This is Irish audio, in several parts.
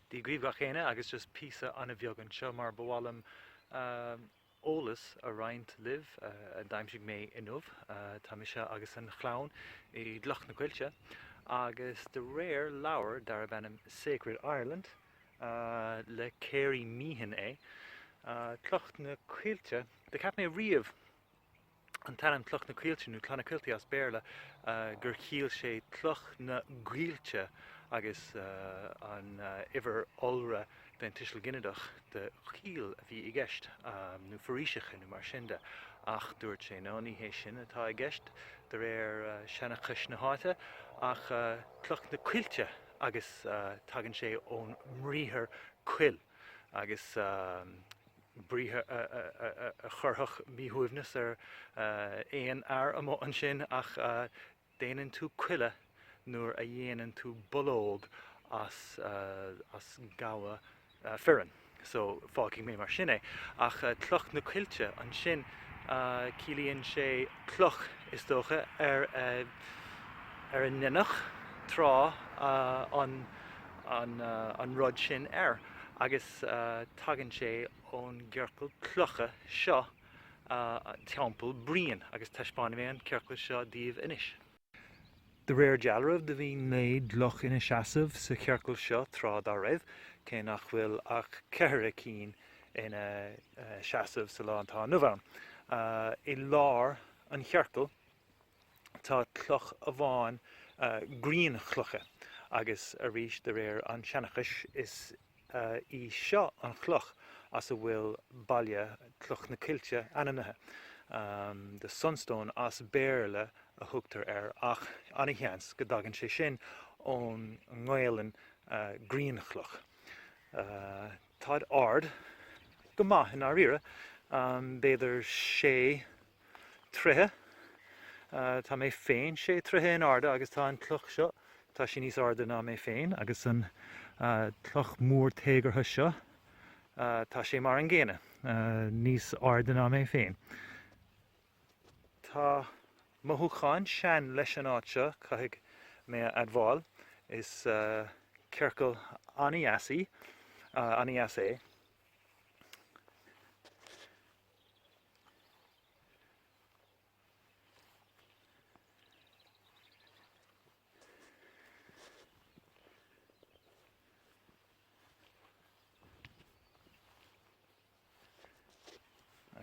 Dia dhaoibh gach éinne agus just píosa an-bheag anseo mar ba mhaith liom eolas a roinnt libh a d'aimsigh mé inniu. Tá mise agus an chlann i gCloch na Coillte agus de réir leabhar darb ainm Sacred Ireland le Cary Meehan é Cloch na Coillte do cheap mé riamh an t-ainm Cloch na Coillte nó Clonakilty as Béarla, gur chiallaigh sé Cloch na gCoillte agus an uimhir iolra den tuiseal ginideach de choill a bhí i gceist, nó foraoiseacha nó mar sin de, ach dúirt sé no, ní hé sin atá i gceist de réir seanchais na háite ach Cloch na Coillte agus tagann sé ón mbriathar coill agus briathar a chuirfeadh míshuaimhneas ar aon fhear amuigh ansin, ach déanann tú coilleadh nuair a dhéanann tú bológ as gamhain fireann. So, fágfaidh mé mar sin é. Ach cloch na coillte ansin, ciallaíonn sé cloch, is dócha, ar a ndeineadh tráth an rud sin air. agus tagann sé ón gciorcal cloiche seo Teampall Briain, agus taispeánfaidh mé an ciorcal seo daoibh anois. De réir dealraimh, do bhí naoi gcloch ina seasamh sa chiorcal seo tráth dá raibh, cé nach bhfuil ach ceithre cinn ina seasamh sa lá atá inniu ann. I lár an chiorcail, tá cloch amháin grianchloiche agus arís de réir an tseanchais is í seo an chloch as a bhfuil baile Cloch na Coillte ainmnithe. The Sunstone as Béarla a thugtar air ach ana-sheans go dtagann sé sin ón nGaelainn grianchloch. Táid ard go maith i ndáiríre, b'fhéidir sé troithe. Tá mé féin sé troithe in airde agus tá an cloch seo, tá sí níos airde ná mé féin agus an cloch mór téagartha seo, tá sé mar an gcéanna, níos airde ná mé féin. Tá mothúchán sean leis an áit seo, caithfidh mé a admháil. Is ciorcal ana-dheas í, ana-dheas é.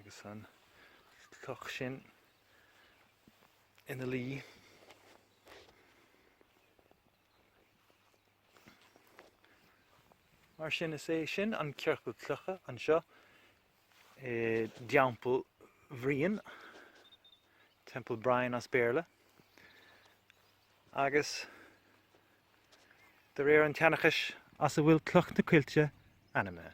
agus an chloch sin ina luí. Mar sin is é sin an ciorcal clocha anseo i dTeampall Bhriain, Temple Bryan as Béarla, agus de réir an tseanchais as a bhfuil Cloch na Coillte ainmnithe.